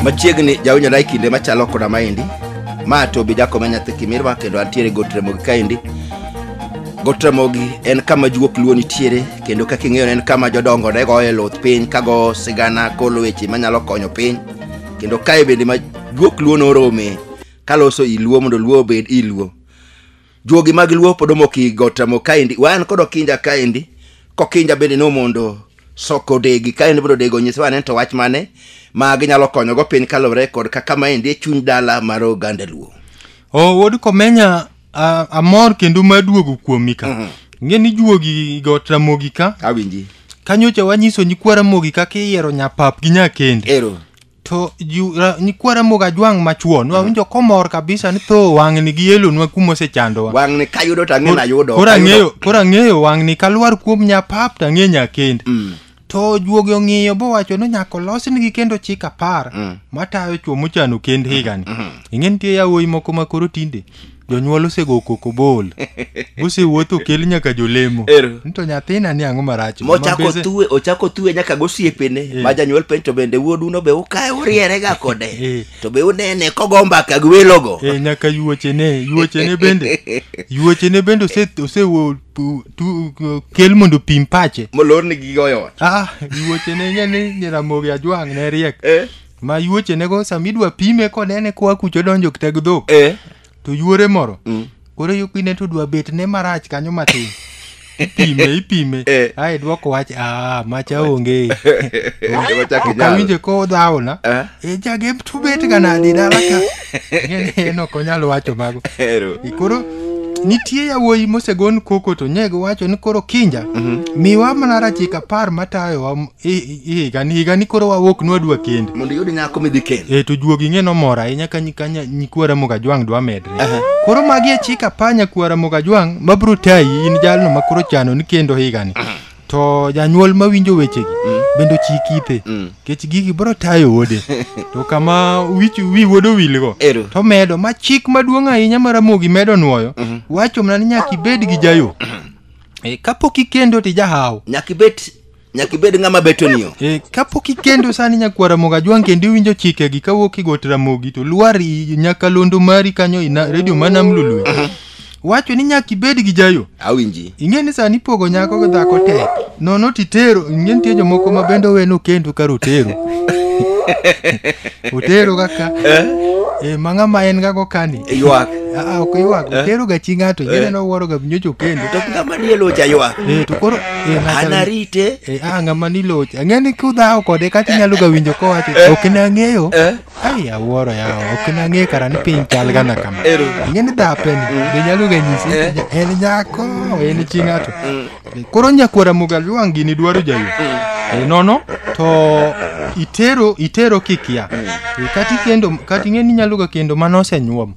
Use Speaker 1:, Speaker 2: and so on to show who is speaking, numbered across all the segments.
Speaker 1: machiegni jawinjore e kinde machalo koda maendi ma tobi jakome nyathi kimirwa kendo antiere got ramogi kaendi got ramogi en kama juok luo nitiere kendo kaka ing'eyo en kama jodongo ne goye luth piny kago sigana kolo weche manyalo konyo piny kendo kae bende ma juok luo norome kaloso i luo mondo luo obed i luo juogi mag luo pod omok i got amo kaendi wan kod okinja kaendi kokinja bende nomondo soko odegi kaendi mondo odegi onyis wane to wach mane ma ginyalo konyogo piny kaluwore kod kaka maendi e chuny dala mar oganda luo o wuod
Speaker 2: komenya a- amor kendo maduogo kuomi ka Mhm. ing'e ni juogi got ramogi ka awinji kanyocha
Speaker 1: wanyiso
Speaker 2: nyikwa ramogi kaka iyiero nyapap gi nyakende ero to
Speaker 1: ju,
Speaker 2: ra, nyikwa Ramogi Ajwang' machwo nwawinjo mm. komor kabisa ni tho wang'ni gi yelonwa kuma osechandowa wang'ni kayudo to ang'e
Speaker 1: nayudo koro ang'eyo koro ang'eyo
Speaker 2: wang'ni kalwar kuom nyapap to ang'e nyakend mm. to juogi ong'iyo bowacho ni nyaka olosnigi kendo chik apar mm. matayo chwo mochano kend higani mm. mm. ing'e nitie yawuoyi moko ma koro tinde jonyuol osego koko bol gosewuotho kel nyaka jolemo Ero. ni to nyathina ni ang'o marach mochako Mabese- tuwe ochako
Speaker 1: tuwe nyaka gosiepene Eh. ma janyuol penj to bende wuoduno be ukae urierega kode Eh. to be unene kogo mbaka gi welogo Eh, nyaka yuochene
Speaker 2: yuochene bende yuochene bende ose- osewo pu- tu- uh, kel mondo pim pache molorni gigoyo ot
Speaker 1: ah yuochene
Speaker 2: ing'e ni nyiramogi ajwang' ne riek Eh. ma yuochenego sama idwa pime kod ene koa kucho odonjo kitag dhok eh to yuore moro mm. koro yo kine to dwa bet ne marach kanyo matin ipime ipime Eh. ae dwoko wach a macha onge Onge machak inyalo. okawinje ko dhawona Eh. e jagem to bet ga nadi dala ka Ng'eni en ok onyal wacho mago Ero. E koro nitie yawuoyi mosegon koko to nyego wacho ni koro kinja miwa mana rachika par matayowa higa ni koro wawuok nwadwa kende mondo iyud nyako midhi kendo
Speaker 1: e to juogi ng'e nomor
Speaker 2: ahinya ka nyikwara mogajwang' dwa medre koro magi achik apanya kwara mogajwang' mabro tayi in jalno ma koro chano ni kendo higani to janyuol mawinjo wechegi mm. bende ochik ithe mm. kech gigi bro tayo wode to kama wich wi wuodo wilgo to medo ma chik maduong' ahinya ma ramogi medo nwoyo mm-hmm. wacho mana ni nyaka ibed gi jayo mm-hmm. eh, kapok ikendo ti jahaw nyaka ibed
Speaker 1: Nyaka ibed ng'ama beto ni yo. Eh, kapok ikendo
Speaker 2: sani nyakwar Ramogi Ajwang' kendo iwinjo chikegi kawuok igot Ramogi to lwar i- nyakalondo mari kanyo ina redio ma Nam Lolwe. Wacho ni nyaka ibed gi jayo. Awinji. Ing'e ni
Speaker 1: sani ipogo
Speaker 2: nyako gi dhako tek. Nono titero, ing'e nitie jomoko ma bende oweno kendo kar otero. otero kaka eh, ma ng'ama en gago kani. Ywak. Ah, ok
Speaker 1: ywak, Eh.
Speaker 2: otero ga chi ng'ato, ing'e Eh. ni owuoro ga nyocho kendo. To ng'ama diel ocha
Speaker 1: ywak. Eh, to koro Eh,
Speaker 2: ng'acha- anarite
Speaker 1: Eh, ah, ng'ama
Speaker 2: niloch ang'eni kudhawo kode kata inyalo ga winjo kowacho ok nang'eyo ai awuoro yawa ok nang'eyo kara ni piny chal gana kama ing'eni dhapeni be nyalo ga nyisi ni nya- en nyako en chi ng'ato Eh, koro nyakwara mugalu wang' gini dwaro jayo Eh, nono to itero itero kikia Eh, kata ikendo kata ing'eni inyalo ga kendo mano osenyuom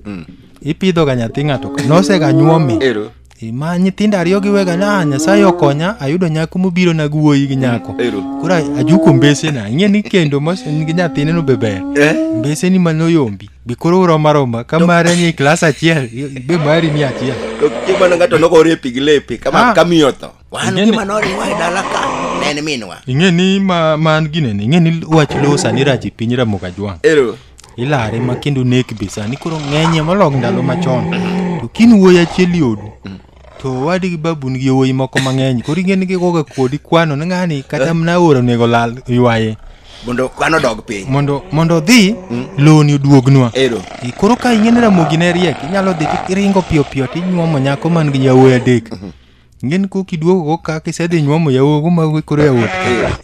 Speaker 2: ipidho ga nyathi ng'ato ka nosega nyuome Ero. ma nyithindo ariyo giwega ni ah nyasaye okonya ayudo nyako mobiro na guoyi gi nyako Ero. koro ajuko mbesena ing'e ni kendo mos- en gi nyathine no be ber Eh? mbeseni manoyombi be koro urom aroma ka mare ni klas achiel be mari ni achiel To kimano
Speaker 1: ng'ato nogore pi gi lepe kama Ah. kamiyo tho. wan Ing'eni- gima noriwa e dala ka ne en
Speaker 2: minwa ing'e ni ma man ginene ing'e ni wach lowo sani rach e piny ramoga jwang' ero ilare ma kendo nek be sani koro ng'enye molok ndalo machon to kin wuoyi achiel yodu to wadi gi babun gi yowuoyi moko mang'eny koro ing'e ni gigoga kodi kwano ni ng'ani kata mna oro onego lal ywaye mondo kwano
Speaker 1: dog piny mondo mondo odhi
Speaker 2: loni oduognwa ero E, koro ka ing'e ni ramogi ne riek inyalo dhi to iringo piyo piyo to inyuomo nyako man gi yawuoyi adek ng'en kok iduogogo ka kisedhi nyuomo yawogo mago koro yawuot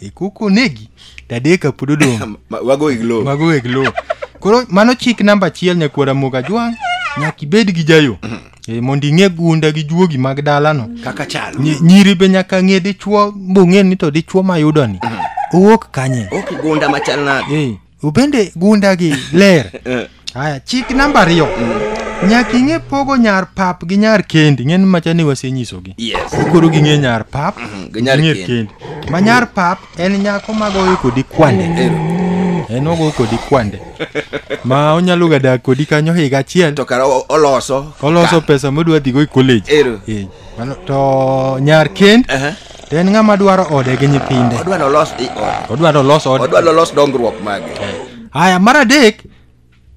Speaker 2: e kok onegi to adek ka pod odong' Ma- wago iglo mago
Speaker 1: weg lowo koro mano
Speaker 2: chik namba achiel nyakwara moga jwang' nyaka ibed gi jayo e, mondo ing'e gunda gi juogi mag dalano kaka chalo Nyi-
Speaker 1: nyiri be nyaka
Speaker 2: ng'e dichwo bong'e ni to dichwo mayudoni owuok kanye ok gunda machal
Speaker 1: nade Eh, ubende gundagi
Speaker 2: ler Eh, haya chik namba ariyo nyaka ing'e pogo nyar pap gi nyar kendi ng'en macha ni wasenyisogi yes koro ging'e nyar pap gi nyar ging'e kendi. kendi ma nyar pap en nyako magoyo kodi kwande Ero. en ogoyo kodi kwande ma onyalo ga dak kodi kanyo higa achiel to kara o- oloso
Speaker 1: oloso pesa modwa dhigo
Speaker 2: e college Ero. Eh, mano- to nyar kend Aha. To en ng'ama dwaro ode gi nyithinde. Odwa nolos i ode. Odwa nolos ode. Odwa nolos dongruok mage.
Speaker 1: Eh. Haya, mar
Speaker 2: adek,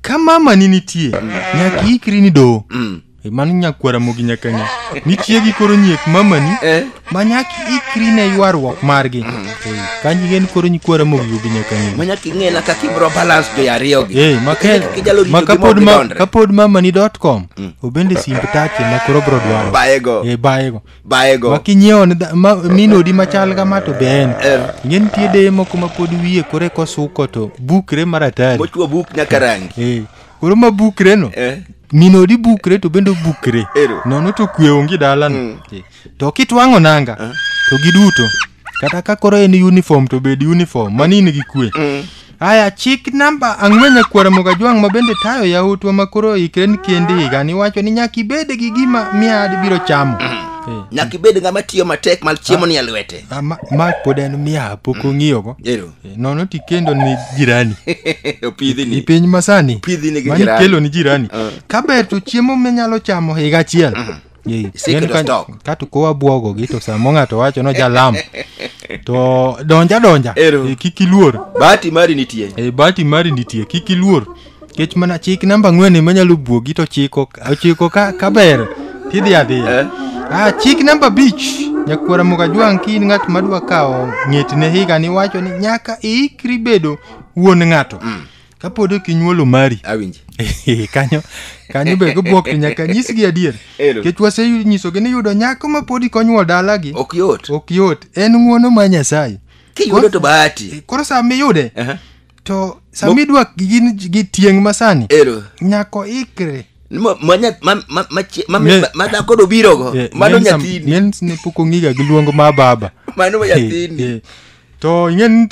Speaker 2: ka mama ni nitie, nyaka ikri ni dowo. Mm. Eh, mano nyakwara mogi nyaka ng'e nitie gi koro nyiek mamani eh? ma nyaka ikri ne ywaruok margi mm. eh, kanji gen koro nyikwara mogi yogi nyaka ng'e ma nyaka ing'e na kaka ibro
Speaker 1: balance jo ariyo gi eh makel ma
Speaker 2: kapod ma kapod mamani.com mm. obende simb take ma koro bro dwaro baego eh baego bayego ma kinyiewo ne dha- ma- min odi machal kama to be en Eh. ing'e nitie deye moko ma pod wiye kore kosuko to bukre maratari mochwo buk nyaka rangi
Speaker 1: Eh, koro ma bukre
Speaker 2: no Eh. min odi bukre to bende obukre Ero. nono to kwe onge dalano Eh, to kitwang'o nanga to giduto kata ka koro en uniform to bed uniform mani in gi kwe haya chik namba ang'wen nyakwara mogajwang' ma bende tayo yautwa ma koro oikre ni kendi higani wacho ni nyaka ibed gi gima miad biro chamo Eh, nyaka ibed
Speaker 1: ng'ama tiyo matek ma chiemo ni e lwete ah, ma- ma pod en
Speaker 2: miya pok ong'iyogo ero Eh, nono tikendo ni jirani i opidhini
Speaker 1: piny masani
Speaker 2: Pidhini gi mani jirani. kelo ni
Speaker 1: jirani
Speaker 2: kaber to chiemo minyalo chamo higa achiel Yei. Isik Yeni to ka- stock. ka to kowa bwogo gi to samo ng'ato wacho no jalam to donja donja Ero. Eh, kik iluor bahati mari nitie
Speaker 1: e bati mari nitie kik iluor
Speaker 2: kech mana chik namba ang'wen ema nyalo bwogi to chiko ochiko ka, ka ber tidhi Eh. adhiya ah, chik namba bich nyakwara mukajwang' ki in ng'at madwa kawo ng'etne higa ni wacho ni nyaka iikri bedo wuon ng'ato mm. kapod ok inyuolo mari awinji Eh,
Speaker 1: kanyo
Speaker 2: kanyo be gibwok to nyaka nyisgi adier Ero. kech wasenyisogi ni yudo nyako ma pod ikonyuol dalagi ok yot ok yot
Speaker 1: en
Speaker 2: ng'uono ma nyasaye kiyudo to bahati
Speaker 1: koro sa miyude Aha.
Speaker 2: to sa Mo- midwa gin gi tieng' masani ero nyako ikre Ma- ma nya- ma- ma- ma chie- ma- Me-
Speaker 1: ma- ma dhako dobirogo Eh, mano men sam- nyathini men ne pok ong'iga
Speaker 2: gi luong ma baba mano Eh, nyathini
Speaker 1: eh. to ing'en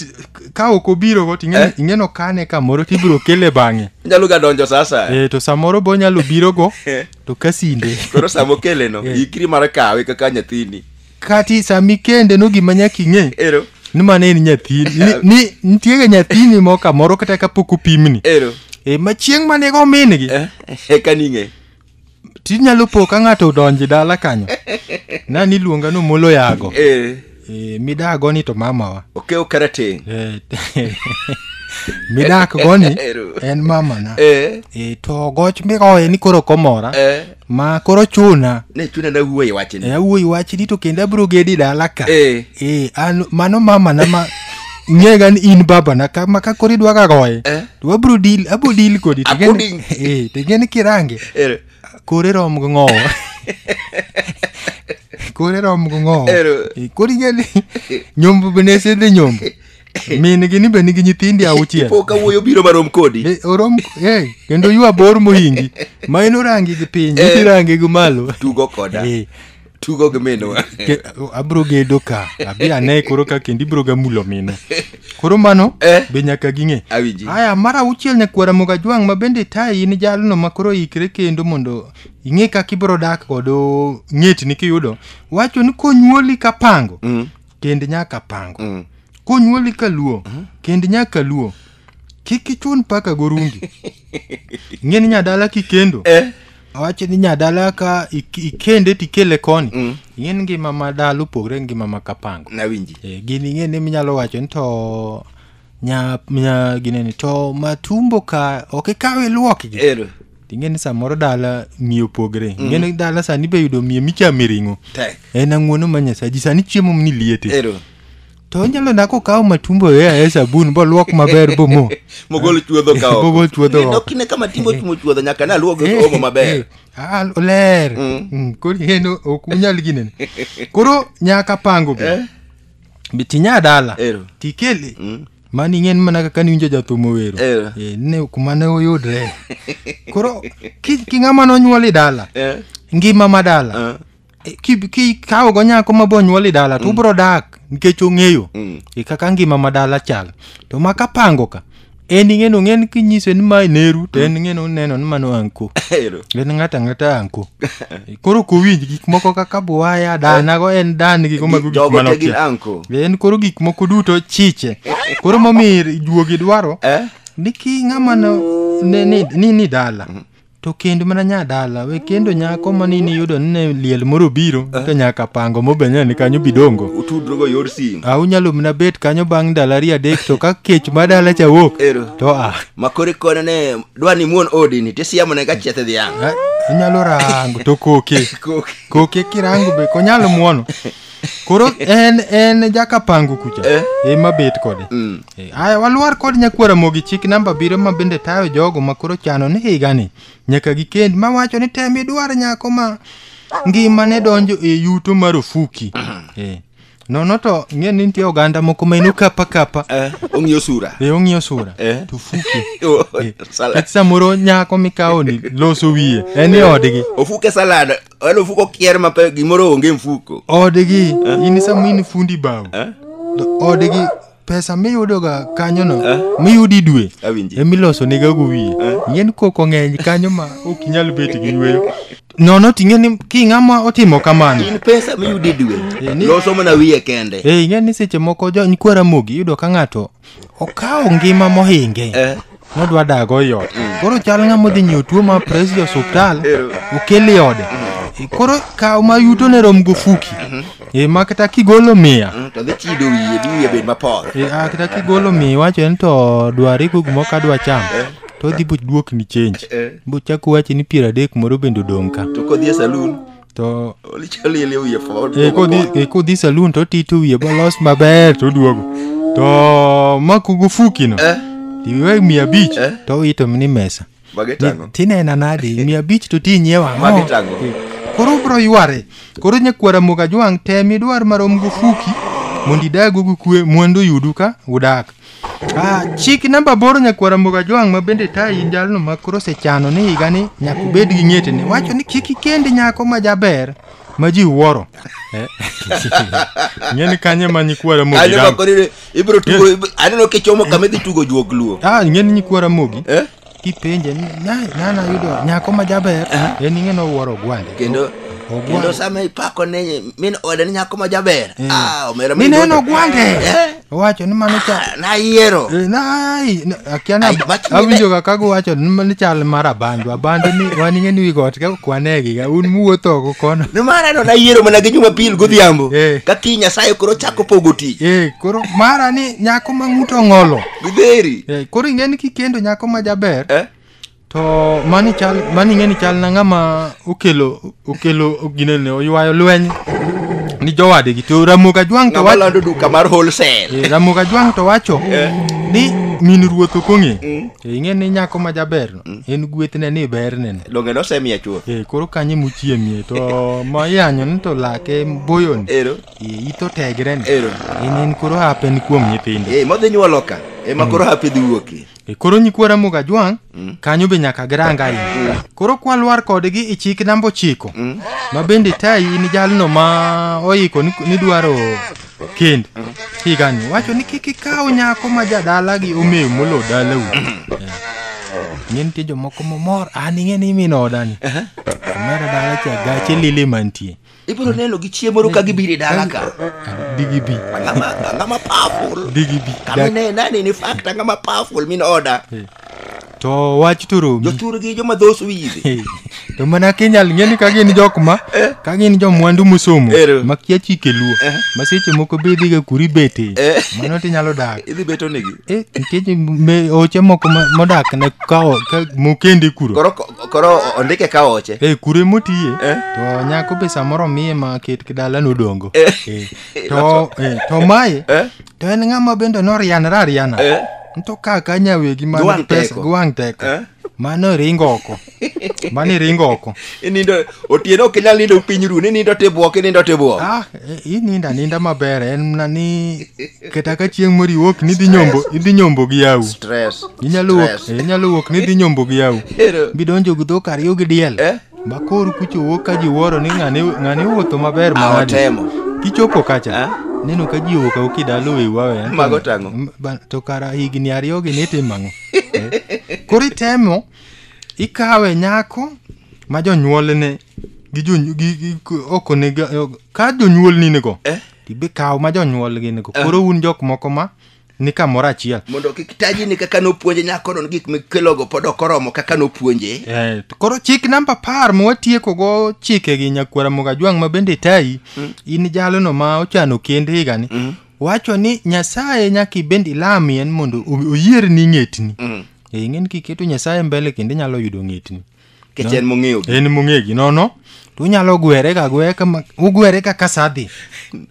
Speaker 2: ka ok obirogo to ing'en- Eh. ing'eno kane kamoro to ibiro kele bang'e nyalo ga donjo sasa
Speaker 1: Eh, to samoro be onyalo
Speaker 2: birogo Eh. to kasinde koro sama okeleno
Speaker 1: Eh. ikri mar kawe kaka nyathini kati sami
Speaker 2: kende no gima nyaka ing'e ero ni mano en nyathini ni, ni nitiega nyathini moro kamoro kata kapok opimni ero e, ma chieng' mane go min gi Eh, eka ning'e tinyalo po ka ng'ato odonji dala kanyo na niluonga no molo yago eh. eh, midaa goni to mamawa okew karateng
Speaker 1: eh,
Speaker 2: midak goni en mamana eh. eh, to goch migoye ni koro komora eh. ma koro chuna ne chuna na wuoyi wachni
Speaker 1: eh, wuoyi wachni to
Speaker 2: kendo abro gedi dala ka eh. Eh, an, mano mamana ma ng'ega ni in babana ka, ma ka koro idwaga goye eh. to abro deal abro deal kodi to Abro gin eh to gin kirange Ero. kore rom go ngowo kore rom go ngowo Ero. Eh, kori gani nyombo bene sende nyombo min gini bene gi nyithindi auchiel Ipo ka wuoyo biro marom
Speaker 1: kodi. Eh, orom eh kendo
Speaker 2: ywa bor mohingi ma inorangi gi piny Eh. irangi gi malo Tugo koda. Eh,
Speaker 1: tugo gi minwa Ke- abro gedo
Speaker 2: ka abi ane koro ka kendo ibro ga mulo mino koro mano Eh. be nyaka ging'e Awinji. aya mar auchiel nyakwara moga jwang' ma bende tayi in jalno ma koro ikre kendo mondo ing'e kaka ibro dak kod ng'etni kiyudo wacho ni konyuoli ka pango kend nyaka pango konyuoli ka luo kend nyaka luo kik ichun paka gorungi ing'e ni nyadala kikendo Eh. awacho ni nyadala ka ik- ikende tikele koni Mm. ing'e ni ngima ma dala opogre gi ngima ma kapango nawinji Eh, gini
Speaker 1: ing'e ni minyalo
Speaker 2: wacho ni to nya, nya gineni to matumbo ka ok ikawe iluokgi ero ing'e ni samoro dala miyo opogre ing'e ni dala sani be yudo miyo michame ring'o tek en ang'uono ma nyasaji sani chiemo ni liete ero to onyalo nako kawo matumbo e aye sabun boluok maber bomo mogol chuodho
Speaker 1: ka oko. Mogol chuodho Ni oko. dok kine kama timo timo chuodho nyaka ne aluog Eh, omo maber eh, ah, oler
Speaker 2: Mm. Mm, koro en o- ok unyal ginene koro nyaka pango be Eh. Be tinya dala Ero. tikele Mm. mani ing'en mana kaka niwinjo jathum owero Ero. Eh, ne kuma ne oyudre koro ki- ki ng'ama nonyuol e dala Eh, ngima ma dala eh. E, ki- ki- ka ogo nyako ma bonyuol i dala to ubro dak nikech ong'eyo e kaka ngima ma dala chal to ma ka pango ka en ing'eno ng'en kinyise ni ma neru to en ing'eno neno ni mano anko Ero. en ng'ato ang'ata anko E, koro kowinj gik moko kaka buwaya danago en dan gigo mago gik Jogo te manokia gin anko. en koro gik moko duto chiche koro momiyo juogi dwaro Eh? ni ki ng'ama no- ne- ni ni- ni dala to kend mana nyadala we kendo nyako mani niyudo ni ne liel moro biro to nyaka pango mobenyana ni kanyo bidongo utudrugo yor sim
Speaker 1: a unyalo mna bet
Speaker 2: kanyo bang' ndalo ariyo adek to ka kech ma dala cha wuok ero to a makore kone
Speaker 1: ne dwa ni muon odini tisiamone ka chieth dhiang' a- unyalo rango
Speaker 2: to koke Koke. koke kirango be konyalo muono koro en en jakapangu kucha Eh. ema bet kode Mm. Eh, aya walwar kod nyakwara mogi chik namba abiriyo ma bende tayo jogo ma koro chano ni higani nyaka gikend ma wacho ni tem idwar nyako ma ngima ne donjo e yuto marufuki Eh, nono to ng'e ni nitie oganda moko ma eno kapa kapa Eh, ong'iyo sura
Speaker 1: e ong'iyo sura Eh. to
Speaker 2: fuki Oh, Eh, salad. kata samoro nyako mikawoni loso wiye en e odgi ofuke salad
Speaker 1: wale mfuko kier mape gimoro onge mfuko odgi in
Speaker 2: sama in fundi bao to odgi pesa miyudoga kanyono miyudi dwe Awinji. emilosonegago wiye ing'eni koko ng'eny kanyo ma ok inyal bet gi yweyo nono ting'e ni king'ama otimo kamano in pesa miyudi
Speaker 1: dwe Eh, ni- loso mana wiye kende Eh, ing'e ni seche moko
Speaker 2: jony kwara mogi iyudo ka ng'ato okawo ngima mohinge Eh. nodwa dago i ot koro chal ng'ama odhi nyiewo tuo ma pres e osuptal okel i ode E, koro kawo ma yuto ne rom gofuki e ma kata kigolo miya Mm, to dhi chido wiye
Speaker 1: dhi wiye bed mapor e a kata kigolo
Speaker 2: miya iwacho en to dwari go gimoro ka dwa cham to odhi boduokni change Eh. bochako wachi ni piero adek moro bende odong' ka to kodhi e saloon
Speaker 1: to
Speaker 2: Lichaliele wiye
Speaker 1: fo. e kodhi- e kodhi
Speaker 2: salun to ti to wiye bolos maber to oduogo to makugo fukino Eh, tiwe mia abich Eh. to ito ni mesa bage tango. tinena nadi mia abich to ti nyiewa ang'o? Magi tango. Eh, koro ubro yware koro nyakwara muka jwang' tem idwar marom go fuki mondo idago gi kwe mwandu oyudu ka udak Ah, chik namba aboro nyakwara mboga jwang' ma bende tayi jalno ma koro osechano ni higa ni nyaka ubed gi ng'etene wacho ni kik ikendi nyako ma jaber ma ji wuoro ing'e ni kanye ma nyikwara mogi Aneno dam- koni ni ibro
Speaker 1: tugo, ibro- aneno kichomo kama idhi tugo juok luo. ah ing'e ni nyikwara mogi
Speaker 2: Eh? kipenje ni "Nai, nana yudo nyako ma jaber en ing'e nowuoro ogwande kendo Ogwande. kendo
Speaker 1: sama ipako ne min ode ni nyako ma jaber Eh. ah omera mi mineno duogo. ogwande
Speaker 2: Eh. owacho ni mano cha Ah, nayiero Eh,
Speaker 1: nai na-
Speaker 2: akia na Ai, mach- awinjo kaka guwacho ni mano chal mar abandu abandu ni wan ing'e ni wi got ka kwanegi ga un muwuotho oko kono nimar ano nayiero
Speaker 1: mana gi jumapil godhiambo Eh. ka kiny nyasaye koro chako pogo tich Eh, koro mara
Speaker 2: ni nyako ma ng'uto ng'olo gidheri Eh, koro
Speaker 1: ing'e ni kikendo
Speaker 2: nyako ma jaber eh? to mani chal mani ing'e ni chal na ng'ama okelo okelo ginene oywayo lweny ni jowadegi to ramoga jwang' to ng'ama wacho lando duka mar wholesale
Speaker 1: Eh, ramoga jwang' to wacho
Speaker 2: Eh. ni min ruoth ok ong'e Mm. To ing'e ni nyako ma jaberno en gwethne ni bernene donge nosemiya chuth
Speaker 1: Eh, koro kanye
Speaker 2: muchiemie to ma iyanyo ni to lake boyoni ero Eh, Itho tegre ni. Ero. In in koro hape ni kuom nyithindo. Eh, modhi nyuolo ka.
Speaker 1: Ema koro hape dhi wuokie. E koro nyikwara
Speaker 2: muga jwang' kanyo be nyaka giranga ahinya koro kwalwar kodgi i chik namba ochiko ma bende tayi in jalno ma oiko ni- nidwaro kend higani wacho ni kik ikaw nyako ma jadalagi omew molo dalau ng'e nitie jomoko momor an ing'e ni imino odani omera dala cha gache lili mantie ibiro neno gi
Speaker 1: chiemo ru ka gibiro e dala ka digi bi
Speaker 2: angama angama
Speaker 1: powerful digi bi kamine
Speaker 2: nani ni
Speaker 1: fact angama powerful min order eh. to
Speaker 2: wach turugi joturgi joma dhos
Speaker 1: wizi eh. to mana
Speaker 2: kinyal ng'eni ka gin jok ma eh. ka gin jo mwandu musomo ma kia chike luo ma seche moko be idhiga kuri bete mano tinyalo dak idhi beto negi eh
Speaker 1: nikech
Speaker 2: oche moko modak ne ka mokendi kuro koro o- ondike
Speaker 1: ka oche e kure motiye Eh.
Speaker 2: to nyako be samoro miye ma ket kidala nodongo Eh. Eh, to eh, to mae Eh? to en ng'ama bende norianre ariana Eh? nto kaka nyawegi man Giwang' gi pesa teko. giwang' teko Eh? mano iringo oko mano iringo oko inindo
Speaker 1: otieno ok inyal nindo piny ru ni nindo tibwok inindo tibwok ah eh,
Speaker 2: ininda ninda maber en mna ni kata ka chieng' moriwo ok nidhi nyombo idhi nyombo gi yawu stress inyalo
Speaker 1: wuok Stress. eh, inyalo
Speaker 2: wuok nidhi nyombo gi yawu Ero. bidonjo gi dhok ariyo gi diel Eh? bakor kucho wuok ka ji wuoro ni ng'ane ng'ane wuotho maber Ah, manadi otemo. kichopo kacha Ah? neno ka ji owuok awoki dalo e wawe Mago tang'o.
Speaker 1: to kara
Speaker 2: higni ariyogi nitimo ang'o Eh? koro itemo ikawe nyako ma jonyuolne gi jony- gi- gi- gi- ok onego ka jonyuolni nigo Eh? tibe kaw ma jonyuolgi nigo koro un jok moko ma ni kamoro achiel mondo kik taji ni
Speaker 1: kaka nopuonje nyakono ni gik mikelogo pod ok oromo kaka nopuonje Eh, to koro chik
Speaker 2: namba apar ma watiekogo chikegi nyakwara mogajwang' ma bende tayi in jalono ma ochano kend higani wacho ni nyasaye nyaka ibende ilamien mondo o- oyierni ng'etni Eh, ing'eni kiketo nyasaye mbele kendo inyalo yudo ng'etni kech en mong'eyo
Speaker 1: gi. en mong'e gi
Speaker 2: nono to unyalo gwere ka gwere kama- ugwere kaka sadhi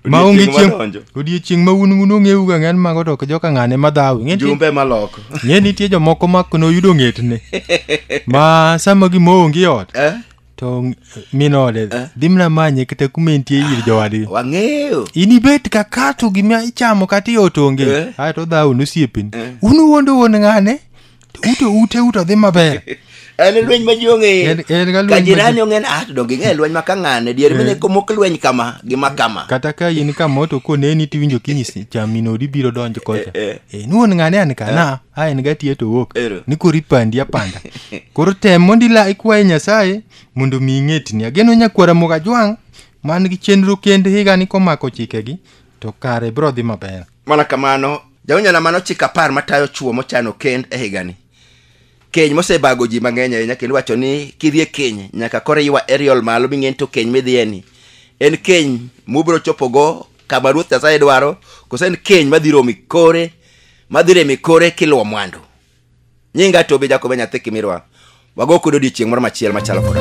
Speaker 2: ma onge Odiechieng' chieng' wadonjo. odiechieng' ma un un ong'eu ga ng'en mago to ok joka ng'ane ma dhawi Ng'e nitie- jumbe maloko
Speaker 1: ng'e nitie jomoko
Speaker 2: ma noyudo ng'etne ma sama gima onge ot Eh? to ng- minode dhi mna manye kata kuma entie ir jowadgi wang'eyo
Speaker 1: inibet ka
Speaker 2: kato gima ichamo kata iot onge Eh. ae to dhaw nosiepeni unuwuondo wuon ng'ane to uto ute uto dhi maber en lweny ma
Speaker 1: ji En- ong'eyo en ka lweny ka ma jirani ji- ong'e ni ah to donge ing'e lweny ma ka ng'ane dier mine komok lweny kama gi ma kama kata ka in kama
Speaker 2: to koneni tiwinjo kinyisi chaminodi biro donjo kocha Eh, eh. Eh, nuwuon ng'ane an kana a en gatiye to owuok Ero. ni koro ipandi apanda koro tem mondo ila ikwaye nyasaye mondo omi ing'etni ageno nyakwara mogajwang' man gi chenro kende higani komako chikegi to kare biro dhi maber mana kamano
Speaker 1: jawinjona mano chik apar matayo chuo mochano kend e higani keny mosebago ji mang'eny ahinya kendo wacho ni kidhi e keny nyaka koro iwa eriol malo ming'eni to keny midhiyeni en keny mubiro chopogo kama ruoth nyasaye dwaro koso en keny madhi romi kore madhi remi kore kiluwo mwandu nyinga tobi jakobe nyathi kimirwa wago kudo odiechieng' moro machiel machalo koda